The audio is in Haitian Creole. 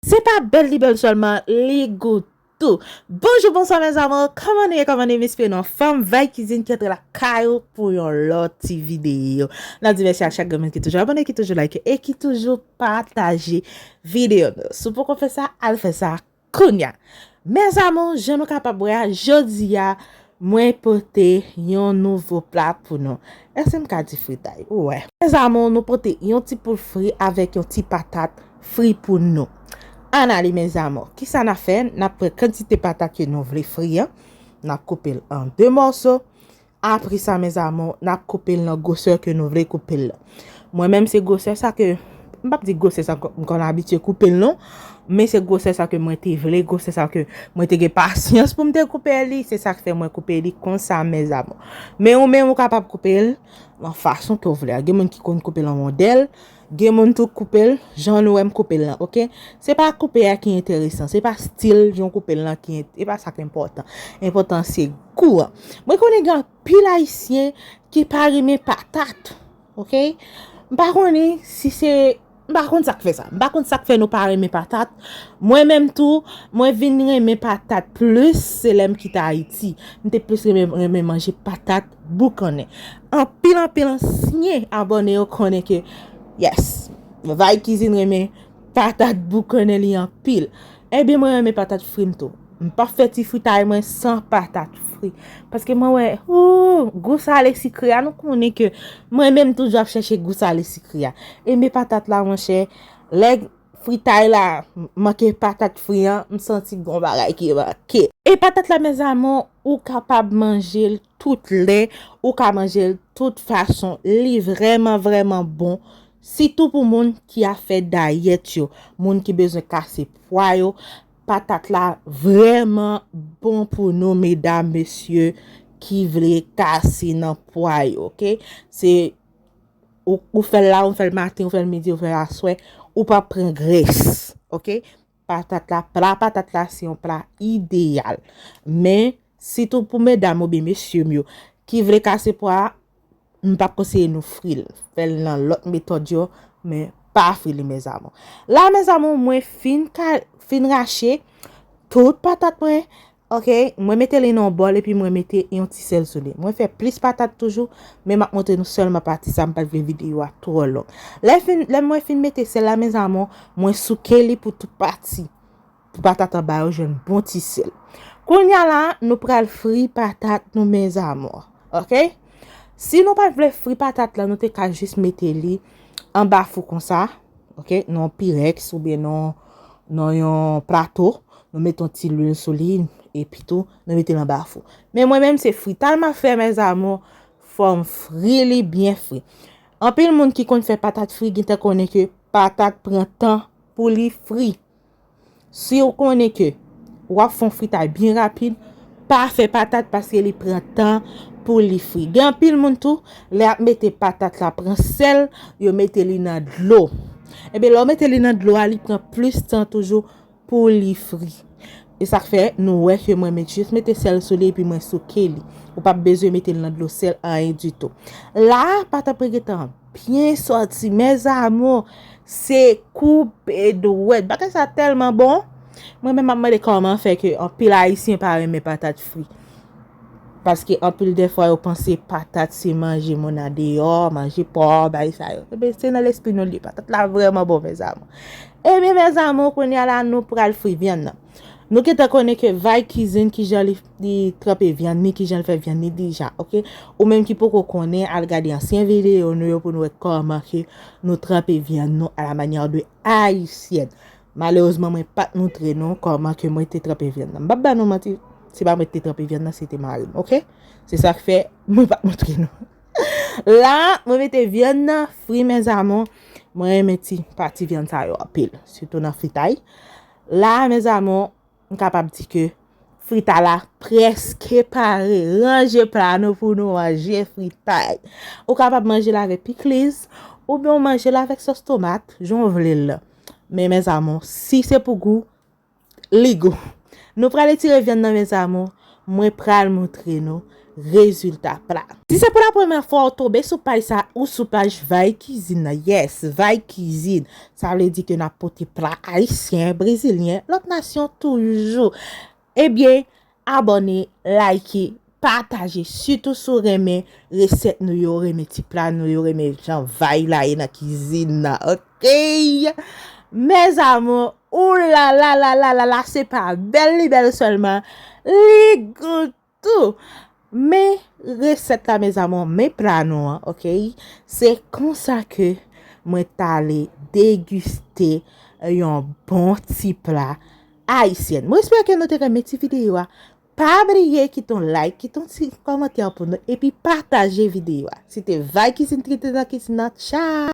Se pa bèl li bèl sèlman, li gou tou. Bonjou bonswa mes amours kòman nou ye kòman nou ye m espere nou anfòm Vibe cuisine ki antre lakay ou pou yon lòt ti videyo n ap di mèsi ak chak grenn moun ki toujou abòne ki toujou like e ki toujou pataje videyo nou si w poko fè sa al fè sa kounya mes amours jan nou kapab wè a jodi a Mwen pote yon nouvo pla pou nou. Èske m ka di fritay? Wè. Mes amours, nou pote yon ti poul fri avèk yon ti patat fri pou nou. Ann ale mes amours. Kisa n ap fè? N ap pran kantite patat ke nou vle fri an. N ap koupe l an 2 mòso. Apre sa mes amours, n ap koupe l nan gwosè ke nou vle koupe l lan. Mwen menm se gwosè sa ke, m pap di gwosè sa m konn abitye koupe l non, men se gwosè sa ke mwen te vle, gwosè sa ke mwen te gen pasyans pou m te koupe li, se sak fè mwen koupe li konsa mes amour. Men ou menm ou kapab koupe l nan fason ke w vle a. Gen moun ki konn koupe l an wondèl, gen moun tou k koupe l jan nou wè m koupe l lan ok. Se pa koupe a ki enteresan, se pa stil jan w koupe l lan ki, se pa sa k enpòtan. Enpòtan se gou an. Mwen konnen gen. Pil ayisyen ki pa renmen patat ok m pa konnen si se m pa konn sak fè sa m pa konn sak fè nou pa renmen patat mwen menm tou mwen vin renmen patat plis se lè m kite ayiti m te plis renmen manje patat boukannen anpil anpil ansyen abòne yo konnen ke yes vay kizin renmen patat boukannen li anpil Ebyen mwen renmen patat fri m tou. M pa fè ti fritay mwen san patat fri. Paske mwen wè ooh gou sale sikre a nou konnen ke mwen menm toujou ap chèche gou sale sikre a. E me patat la monchè lè fritay la manke patat fri an m santi gon bagay ki manke. E patat la mes amour ou kapab manjel tout lè, ou ka manje l tout fason, li vrèman vrèman bon, sitou pou moun ki ap fè dayèt yo, moun ki bezwen kase pwa yo, patat la vrèman bon pou nou medam mesye ki vle kase nan pwa yo ok, se ou fèl la ou fèl maten ou fèl midi ou fèl aswè ou pap pran grès ok. Patat la, pla patat la se yon pla ideyal. Men, sitou pou medam oubyen mesye m yo ki vle kase pwa a, m pa p konseye nou fri l. Fè l nan lòt metòd yo, men pa fri li mes amours. La mes amours mwen fin rache tout patat mwen. Ok mwen mete li nan yon bòl epi mwen mete yon ti sèl sou li mwen fè plis patat toujou men map montre nou sèlman pati sa mpat vle videyo a twò long lè mwen fin mete sèl la mes amour mwen souke li pou tout pati pou patat anba yo jwenn bon ti sèl kounya la nou pral fri patat nou mes amour ok si nou pat vle fri patat la nou te ka jis mete li anba fou konsa Ok, nou an pirex ou byen nou an yon plato, nou met yon ti lwil sou li, epi tou nou met yon bafou. Men mwen menm se frital ma fè mè zamou, fòm fri li byen fri. Anpil moun ki konn fè patat fri, gin tan konnen ke patat pran tan pou li fri. Siw konnen ke wap fon fritay byen rapid pa fè patat paske li pran tan pou li fri. Gen anpil moun tou lè yap mete patat la pran sèl yo mete li nan dlo. Ebyen lè ou mete li nan dlo a li pran plis tan toujou pou li fri. E sak fè nou wè ke mwen met jis mete sèl sou li epi mwen souke li. Ou pap bezwen mete l nan dlo sèl anyen ditou. La patat mwen gentan. Byen sòti mes amours se koupe dwèt bagay sa tèlman bon mwen menm map mande kòman fè ke anpil ayisyen pa renmen patat fri paske anpil dèfwa yo panse patat se manje moun andeyò manje pòò bagay sa yo ebyen se nan lespri nou li ye patat la vrèman bon mes amours ebyen mes amours kounya la nou pral fri vyann nan. Nou gentan konnen ke vay kizin kijan li tranpe vyann ni kijan li fè vyann ni deja ok. Ou menm ki poko konnen al gade ansyen videyo nou yo pou nou wè kòman ke nou tranpe vyann nou a la manyè de ayisyèn. Malerezman mwen pa t moutre nou kòman ke mwen te tranpe vyann nan. M pa p ba nou manti, se pa mwen ki te tranpe vyann nan se te mari m ok. Se sa k fè mwen pa t moutre nou. La mwen mete vyann nan fri mes amours. Mwen renmen ti pati vyann sa yo anpil. Sitou nan fritay. La a mes amours, m kapab di ke frita la preske pare. Ranje pla nou pou nou manje fritay. Ou kapab manje l avèk pikliz, oubyen ou manje l avèk sòs tomat, jan w vle l la. Men mes amours, si se pou gou, li gou. Nou pral etire vyann nan mes amours, Mwen pral montre nou rezilta pla. Si se pou la premè fwa ou tonbe sou paj sa ou sou paj Vay kizin nan yes Vay kizin sa vle di ke nap pote pla ayisyen brezilyen lòt nasyon toujou ebyen abòne like pataje sitou si w renmen resèt nou yo renmen ti pla nou yo renmen jan Vay la ye nan kizin nan ok mes amour. Ooh lala lala lala se pa bèl li bèl sèlman li gou tou men resèt la mes amours men pla nou an ok se konsa ke mwen tale deguste yon bon ti pla ayisyèn mwen espere ke nou te renmen ti video a pa bliye kite yon like kite yon ti kòmantè pou nou epi pataje video a se te Vibe Cuisine trete nan kizin nan tcha.